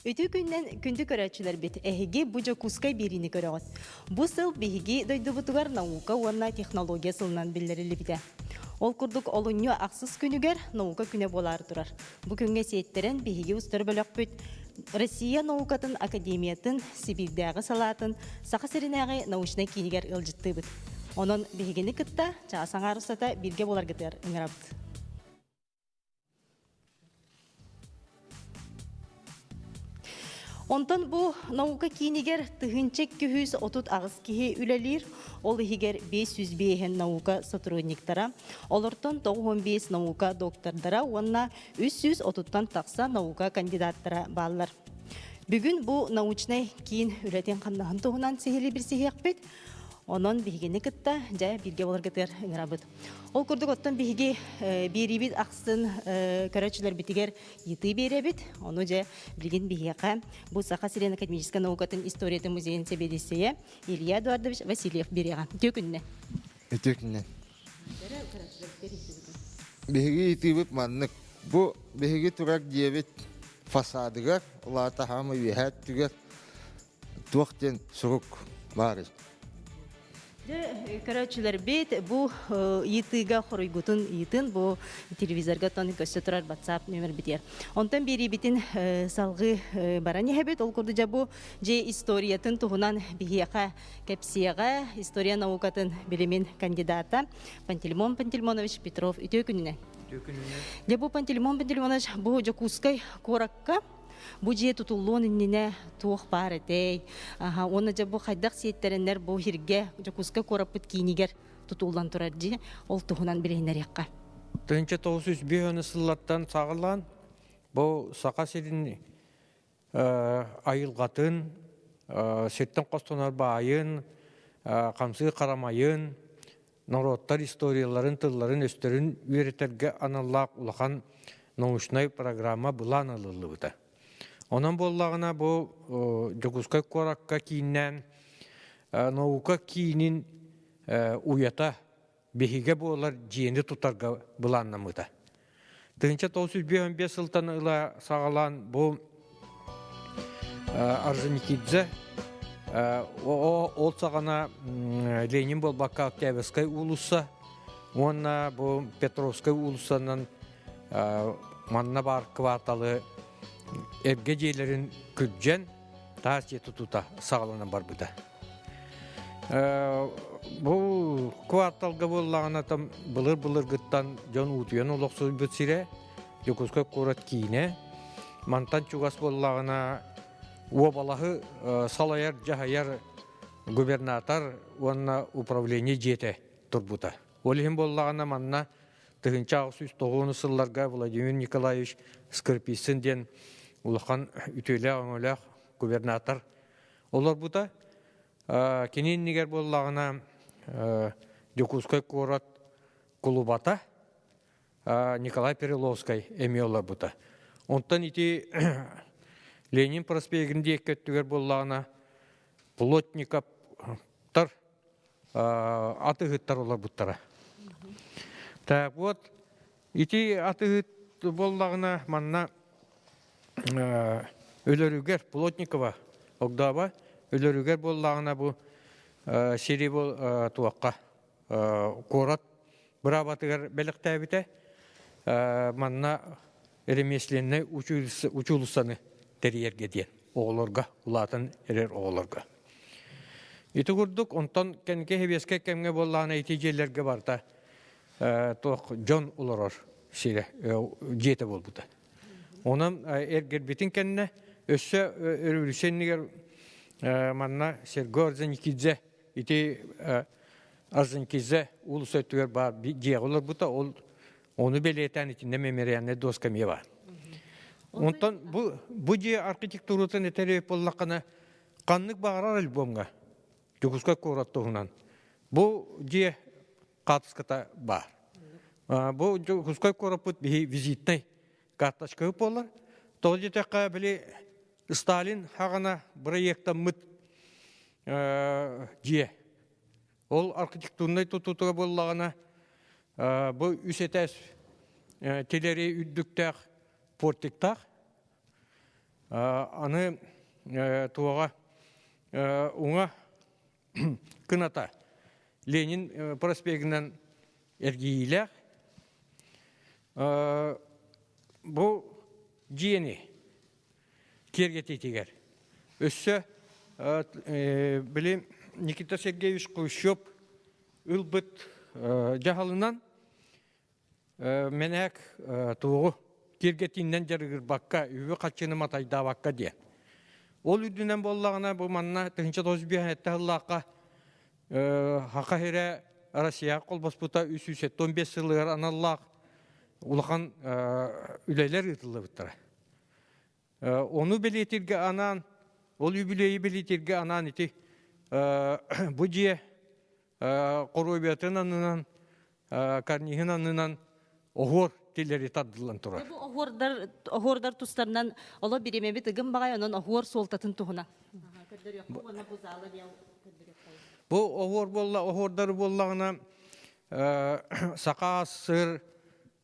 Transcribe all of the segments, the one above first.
Ити күннэн күндү көрөөччүлэрбит, эһиги бу Дьокуускай биэриини көрөҕүт. Бу сыл биһиги дойдубутугар наука уонна технология сылынан биллэриллибитэ. Ол курдук олунньу ахсыс күнүгэр наука күнэ буолаары турар. Бу күҥҥэ сиэттэрэн биһиги устар бөлөхпүт Россия наукатын академиятын Сибиирдээҕи салаатын Саха сиринээҕи научнай киинигэр ыалдьыттыыбыт. Онон биһигини кытта чаас аҥаар устата бииргэ буоларгытыгар ыҥырабыт. Онтон бу наука киинигэр тыһыынча икки жүз отут аҕыс киһи үлэлиир, ол иһигэр бес жүз биэһин наука сотрудниктара, олортон тоҕус уон биэс наука доктордара уонна үс жүз отуттан тахса наука кандидаттара бааллар. Бүгүн бу научнай киин үлэтин-хамнаһын туһунан сиһилии билсиһиэхпит. Онон биһигини кытта дьэ бииргэ боларгытыгар ыҥырабыт. Ол курдук, оттон биһиги биэриибит ахсын көрөөччүлэрбитигэр ыйытыы биэрэбит. Ону дьэ билигин биһиэхэ бу Саха сирин академическай наукатын историятын музейын сэбиэдиссэйэ Илья Эдуардович Васильев береҕан. Түөкүннэ. Түөкүннэ. Биһиги ыйытыыбыт маннык. Бу биһиги турар дьиэбит фасадыгар, улаата хаама үөһээ өттүгэр туох диэн сурук баарый Дьэ, көрөөччүлэрбит бу ыйытыыга хоруйгутун ыйытын бу телевизорга оттон көрсө турар WhatsApp нөмөрбүтүгэр. Онтон биэриибитин салгыы баран иһэбит. Ол курдук дьэ бу дьиэ историятын туһунан биһиэхэ кэпсиэҕэ история наукатын билимин кандидата Пантелеймон Пантелеймонович Петров үтүө күнүнэн. Үтүө күнүнэн. Дьэ бу Пантелеймон Пантелеймонович бу Дьокуускай куоракка Бу дьиэ тутуллуон иннинэ туох баар этэй? Аха, уонна дьэ бу хайдах сиэттэрэннэр бу сиргэ Дьокуускай куораппыт киинигэр тутуллан турар дии, ол туһунан билиһиннэриэххэ. Тыһыынча тоҕус жүз биэс уон сыллаттан саҕалаан бу Саха сирин айылҕатын, сиртэн хостонор баайын, хамсыы харамайын, норуоттар историяларын тылларын-өстөрүн үөрэтэргэ аналлаах улахан научнай программа былаан ылыллыбыта. Онон буоллаҕына бу Дьокуускай куоракка кииннээн наука киинин уйата биһигэ буолар дьиэни тутарга былааннамыта. Тыынча тоғыз жүз он бес сылтан ыла саҕалаан бу Орджоникидзе ол саҕана Ленин буолбакка Октябрьскай уулусса уонна бу Петровскай уулуссанан манна баар кварталы эргэ дьиэлэрин күрдьэн таас дьиэ тутуута саҕаланан барбыта. Бу кварталга буоллаҕына там былыр-былыргыттан дьон уутуйан олохсуйбут сирэ, Дьокуускай куорат киинэ. Мантан чугас буоллаҕына уобалаһы салайар-дьаһайар губернатор уонна управление дьиэтэ турбута. Ол иһин буоллаҕына манна тыһыынча аҕыс үс тоҕуонус сылларга Владимир Николаевич Скорписин диэн улахан үтүөлээх-өҥөлөөх губернатор олорбута. Кини иннигэр буоллаҕына Дьокуускай куорат кулубата Николай Переловскай эмиэ олорбута. Онтон ити Ленин проспегин диэкки өттүгэр буоллаҕына Плотниковтар атыыһыттар олорбуттара. Так вот, ити атыыһыт буоллаҕына манна өлөрүгэр Плотникова Огдооба өлөрүгэр буоллаҕына бу сири бол туохха куорат быраабатыгар бэлэхтээбитэ манна ремесленнай учуулуссаны тэрийэргэ диэн оҕолорго улаатан эрэр оҕолорго. Ити курдук, онтон кэнки хэбиэскэ кэмҥэ буоллаҕына ити дьиэлэргэ барта туох дьон олорор сирэ, дьиэтэ буолбута. Онон эргэрбитин кэннэ өссө өрөбүлүсэннигэр манна Серго Арзанкидзе ити Арзанкидзе улус өттүгэр баар дьиэ олорбута, ол Ону бэлиэтээн итиннэ мемориальнай доска мева. Онтон бу бу дьиэ архитектуратын этэрэй буллаххына ханнык баҕарар альбомҥа Дьокуускай куорат туһунан бу дьиэ хаартыската баар. Бу Дьокуускай куораппыт биһи визитнай карточка буолар. Тоҕо диэтэххэ били Сталин хагана проектаммыт дьиэ Ол архитектурнай тутуута буоллаҕына, бу үс этээс тилэри үрдүктээх портиктаах. Аны туоҕа уҥа кыната Ленин проспегынан эргийиилээх. Бу дьиэни киэргэтиитигэр. Өссө били Никита Сергеевич Кулщев ылбыт дьаһалынан Менэк туоҕу киэргэтииннэн дьарыгырбакка, үбү хаччыны матайдаабакка диэн. Ол үрдүнэн буоллаҕына, бу манна тыһынча тоҕус биэһ этте хыллаахха Хахаһирэ Россияҕа колбоспута үс сүүс он бес сылыгар аналлаах улахан үлэлэр ыытыллыбыттара. Ону бэлиэтиргэ анаан, ол үбүлүөйү бэлиэтиргэ анаан ити бу дьиэ хоруобуйатын аннынан, карниһын аннынан оһуор тилэри тардыллан турар. Бу оһуордар, оһуордар тустарынан оло биримэбит ыгым баҕай, онон оһуор суолтатын туһуна. Бу оһуор буолла, оһуордары буоллаҕына саха сыр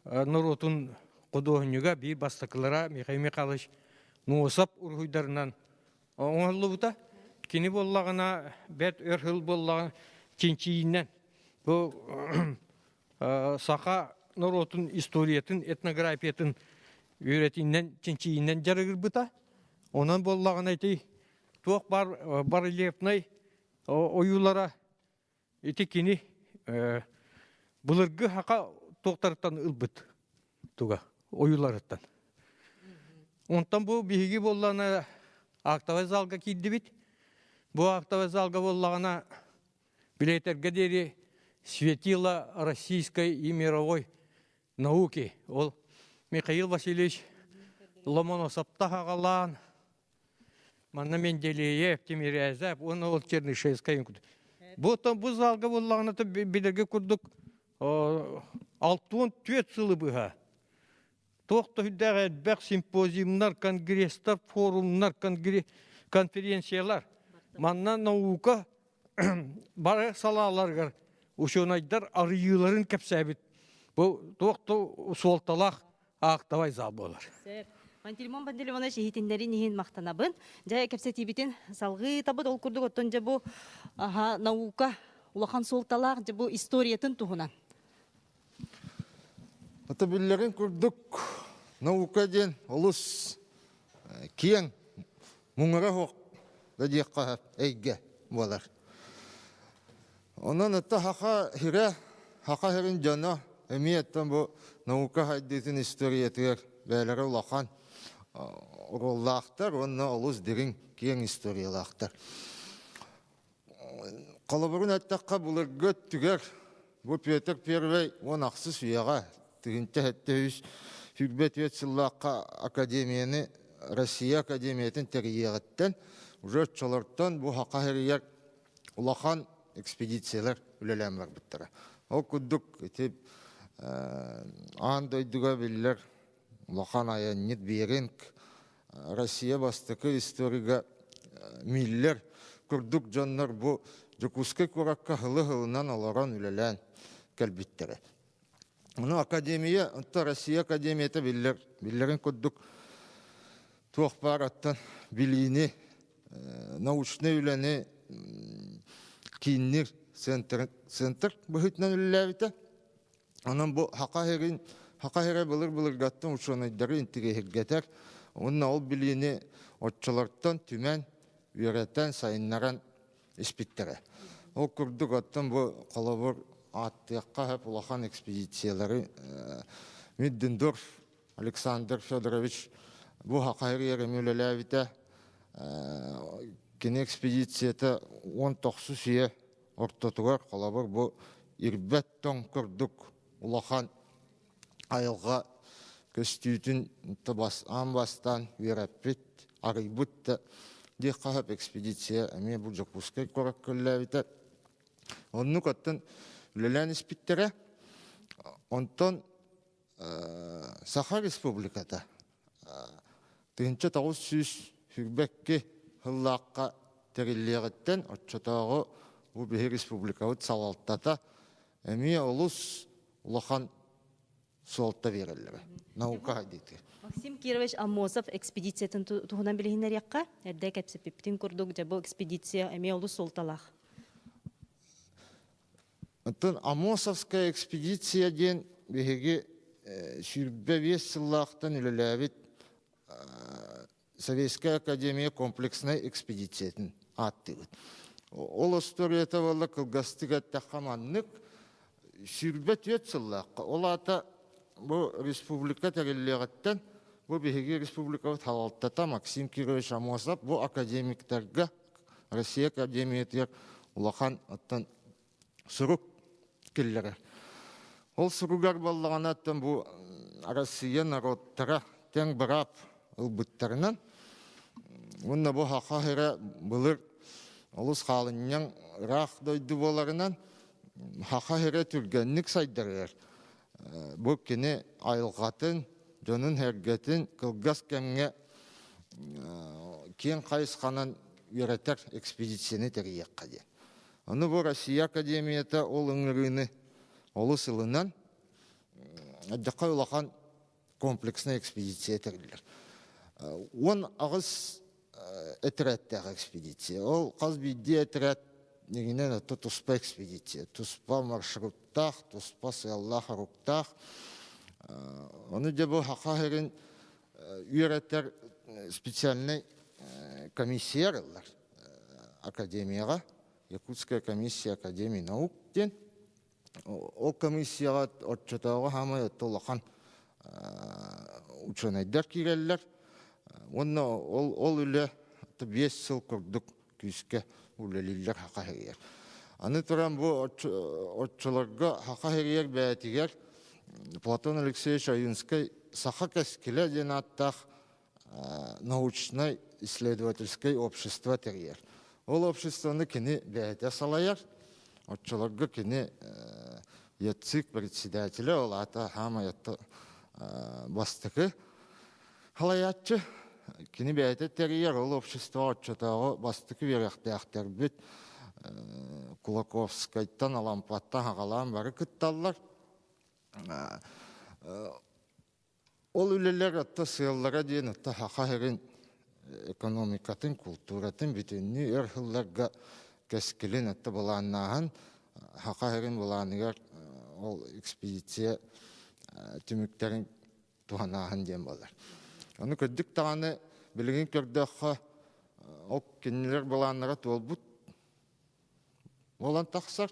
норуотун худуоһунньуга биир бастакылара Михаил Михайлович Нуосап уруһуйдарынан оҥоһуллубута. Кини буоллаҕына, бэрт өр хыл буоллаҕына, чинчийиннэн бу саха норуотун историятын, этнографиятын үөрэтиннэн, чинчийиннэн дьарыгырбыта. Онон буоллаҕына ити туох бар барельефнай ойуулара Ити кини былыргы хака туохтарыттан ылбыт туга ойууларыттан. Онтон бу биһиги буоллаҕына актовай залга киирдибит. Бу актовай залга буоллаҕына билетэргэ диэри светило российской и мировой науки. Ол Михаил Васильевич Ломоносов таһаҕалаан Манна Менделеев, Тимирязев уонна ол Чернышевская курдук. Бу бу залга буллаҕына билэргэ курдук алтуон түөрт сылы быһа туох да үрдээх элбэх симпозиумнар, конгресстар, форумнар, конференциялар. Манна наука бары салааларыгар учуонайдар арыйыыларын кэпсээбит. Бу туох да суолталаах аактабай зал буолар. Пантелеймон Пантелеймонович иһитиннэрин иһин махтанабын. Дьэ, кэпсэтиибитин салҕыытабыт. Ол курдук оттон дьэ бу аха, наука улахан суолталаах дьэ бу историятын туһунан. Ата биллэрин курдук наука диэн олус э, киэҥ, муҥура суох да диэххэ эйгэ буолар. Онон ытта Хаха сирэ, Хаха сирин дьоно эмиэттэн бу наука сайдыытын историятыгар бээлэрэ улахан оруоллаахтар уонна олус дириҥ киэҥ историялаахтар. Холобурун эттэххэ, былыргы өттүгэр бу Петр Первый уон ахсыс үйэҕэ тыһыынча сэттэ үс сүүрбэ түөрт сыллаахха академияны Россия Академиятын тэрийиэҕиттэн уже оччолортон бу Хаха сиригэр улахан экспедициялар үлэлээн барбыттара. Ол курдук ити аан дойдуга биллэр улахан айанньыт Беринг Россия бастакы историяга миллер курдук дьоннор бу Дьокуускай куоракка һылы-һылынан олорон үлэлээн кэлбиттэрэ. Мину академия, онто Россия Академията биллер, биллерин курдук туох баар оттон билиини, э, научнай үлэни кииннир центр, центр быһытынан үллээбитэ. Онон бу хака херин, хака хере былыр-былыргаттан учуонайдары интигиһиргэтер. Уонна ол билиини оччолортон түмэн, үөрэтэн, сайыннаран испиттэрэ. Ол курдук, оттон бу холобур ааттыахха сөп улахан экспедициялары Миддендорф Александр Федорович бу хахайыр эми үлэлээбитэ. Кини экспедицията он тохсус үйэ ортотугар холобур бу ирбэт тоҥ курдук улахан айылҕа көстүүтүн бас, аан бастаан үөрэппит, арыйбыт да диэх хаһап экспедиция эмиэ бу Дьокуускай куорат көллөөбүтэ. Оннук оттон үлэлээн испиттэрэ. Онтон Саха Республиката тыһынча тоҕус сүүс хүрбэкки хыллаахха тэриллиэҕиттэн оччотооҕу бу биһи республикабыт салалтата Эмиэ олус улахан суолта биэрэллэрэ наука диити. Максим Кирович Аммосов экспедициятын туһунан билиһиннэриэххэ. Эрдэ кэпсэппиппитин курдук, дьэ бу экспедиция эмиэ олус суолталаах. Оттон Амосовская экспедиция диэн биһиги э, сүүрбэ биэс сыллаахтан үлэлээбит э, Советская Академия комплекснай экспедициятын ааттыыбыт. Ол остуоруйата буолла кылгастык эттэххэ маннык. Сүүрбэ түөрт сыллаахха, ол аата бу республика тэриллиэҕиттэн бу биһиги республикабыт халалтата Максим Кирович Амосов бу академиктарга Россия Академиятыгар улахан оттон сурук киллэрэр. Ол суругар буоллаҕына оттон бу Арассыыйа норуоттара тэҥ быраап ылбыттарынан уонна бу хаһыра былыр олус хаалынньаҥ ыраах дойду буоларынан хаһыра түргэнник сайдарыгар бу кини айылҕатын дьонун эргэтин кылгас кэмҥэ киэҥ хайысханан үөрэтэр экспедицияны тэрийиэххэ диэн. Аны бу Россия Академията ол ыҥырыыны олус ылынан, элбэххэ улахан комплекснай экспедиция тэриллэр. Уон аҕыс этэрэттээх экспедиция. Ол хас биирдии этэрээт нигинэн отто туспа экспедиция, туспа маршруттаах, туспа сыаллаах оруктаах. Ону дьэ бу ХАХА үөрэтэр специальнай комиссия арыллар. академияҕа Якутская комиссия академии наук диэн ол комиссияҕа оччотооҕу саамай отто улахан учуонайдар киирэллэр уонна ол ол үлэ биэс сыл курдук күүскэ үлэлииллэр хақа херийэр аны туран бу оччолорго хақа херийэр бэйэтигэр платон алексеевич ойунскай саха кэскилэ диэн ааттаах научнай-исследовательскай общество тэрийэр. Ол обществоны кини бэйэтэ салайар. Оччолорго кини ЯЦИК председателя, ол аата хаамайатта бастакы халаяччы. Кини бэйэтэ тэрийэр, ол общество оччотооҕу бастакы үөрэхтээхтэрбит Кулаковскайтан, Алампаттан хаҕалаан бары кытталлар. Ол үлэлэр отто сыаллара диэн отто хаха эрин экономикатын, култууратын бүтүннүү өр хылларга кэскилин отто былааннааһын хаха эрин былааныгар ол экспедиция түмүктэрин туһанааһын диэн буолар. Ону көрдүк даҕаны билигин көрдөххө ол кинилэр былааннара туолбут Буолан тахсар.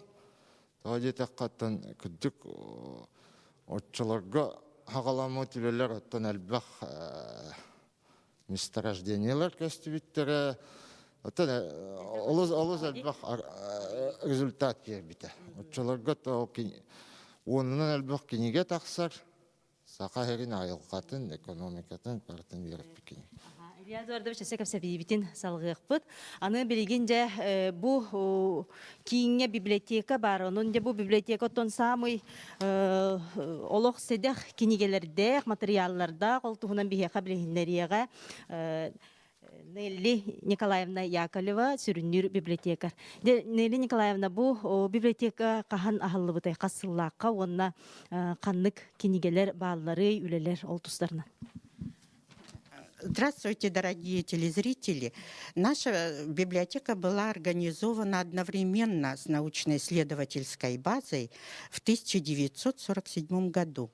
Тоҕо диэтэххэттэн кырдьык оччолорго хаҕаламмыт үлэлэр оттон элбэх месторождениелар көстүбүттэрэ оттон олус олус элбэх результат киирбитэ оччолорго то уонунан элбэх кинигэ тахсар Саха сирин айылҕатын, экономикатын барытын үөрэппит кини. Илья Эдуардович өссө кэпсэбиибитин салҕыахпыт. Аны билигин дьэ бу кииҥҥэ библиотека баар. Онон дьэ бу библиотека оттон саамай олох сэдэх кинигэлэрдээх, матырыйааллардаах, ол туһунан биһиэхэ билиһиннэриэҕэ. Нелли Николаевна Яковлева сүрүннүүр библиотекарь. Де Нелли Николаевна бу о, библиотека хаһан аһыллыбытай хас сыллаахха уонна э, ханнык кинигэлэр баалларый үлэлэр ол тустарынан? Здравствуйте, дорогие телезрители! Наша библиотека была организована одновременно с научно-исследовательской базой в 1947 году.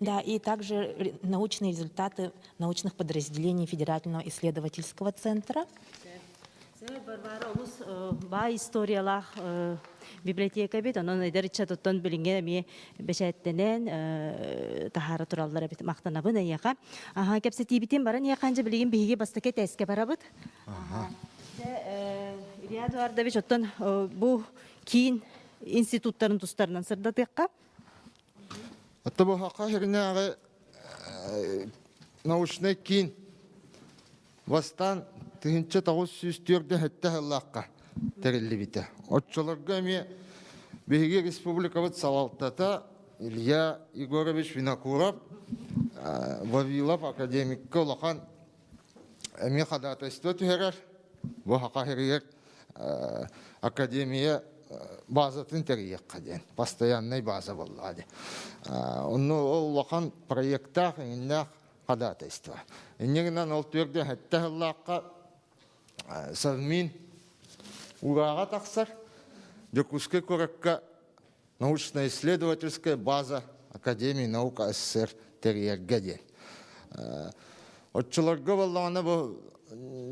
Да, и также научные результаты научных подразделений Федерального исследовательского центра. Барбара олус баа историялаах библиотека бит, онон эдер иччатыттан билинге эми бэчээттенен тахара тураллар эбит мақтанабын эйеха. Аха кепсетибитин барын еханжа билигин биһиги бастакы теске барабыт. Ага. Илья Эдуардович оттон бу киин институттарын тустарынан сырдатыахха. Оттобохака херинааҕы научнай киин бастаан тыһынча тоғыз сүүс түөртүн хөттө хыллаахха тэриллибитэ. Отчолорго эмиэ биһиги республикабыт салалтата Илья Егорович Винокуров Вавилов академикка улахан эмиэ ходатайство түһэрэр бу хахаһырыйар академия базатын тэрийиэххэ диэн постояннай база буоллаҕа дии онну ол улахан проектаах иҥиннээх ходатайство инньэ гынан ол түөртэ сэттэ сыллаахха совмин урааҕа тахсар дьокуускай куоракка научно-исследовательская база Академии наук СССР тэрийэргэ диэн. Оччолорго буоллаҕына бу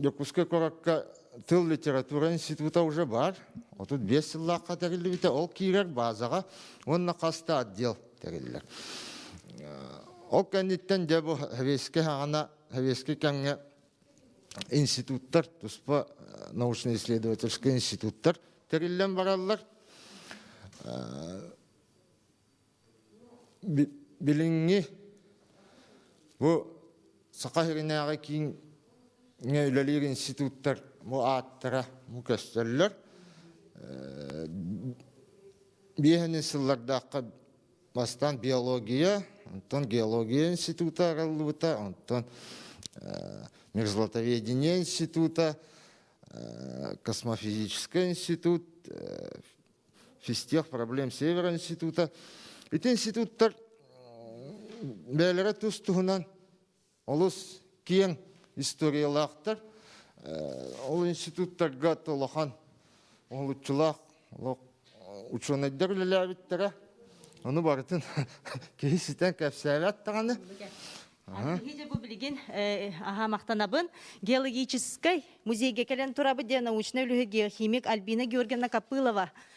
Дьокуускай куоракка тыл литература института уже бар. Отут биэс сыллаахха тэриллибитэ. Ол киирэр базаҕа уонна хаста отдел тэриллэр. Ол кэнниттэн дьэ бу хэбиэскэ хаҕана хэбиэскэ кэмҥэ институттар, туспа научно-исследовательскай институттар тэриллэн бараллар. Билиҥҥи бу Саха сиринээҕи кииҥҥэ үлэлиир институттар бу ааттара бу көстөллөр. Биэһэнин сыллардаахха Бастаан биология, онтон геология института арыллыбыта, онтон межзлатоведение института, космофизический институт, физтех проблем Север института. Ити институттар бэйэлэрэ тус туһунан Олус киэҥ историялаахтар. Ол институттарга улахан уһулуччулаах олох учуонайдар үлэлээбиттэрэ. Ону барытын киһи ситэн кэпсээбэт даҕаны. билигин аһа махтанабын геологическай музейге кэлэн турабыт диэн научнай үлүһү геохимик Альбина Георгиевна Копылова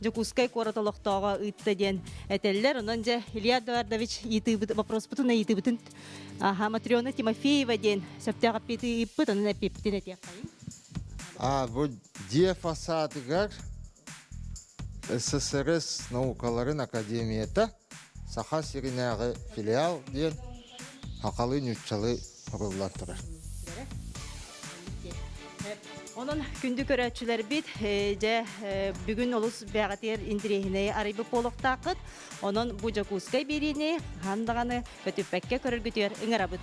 Дьокуускай куорат олохтооҕо ыытта диэн этэллэр. Онон дьэ Илья Эдуардович ыйытыыбыт, боппуруспутун ыйытыыбытын аха Матрена Тимофеева диэн сөптөөх эппиэти ыыппыт, онон эппиэппитин этиэххэ. А бу дьиэ фасадыгар ССРС наукаларын академията Саха сиринээҕи филиал диэн сахалыы нууччалыы суруллан турар. Онон күндү көрөөччүлэрбит, дьэ бүгүн олус бэҕэтиэр интириэһинэйи арыйбыт буолуохтааххыт. Онон бу Дьокуускай биэриини хаһан даҕаны көтүппэккэ көрөргүтүгэр ыҥырабыт.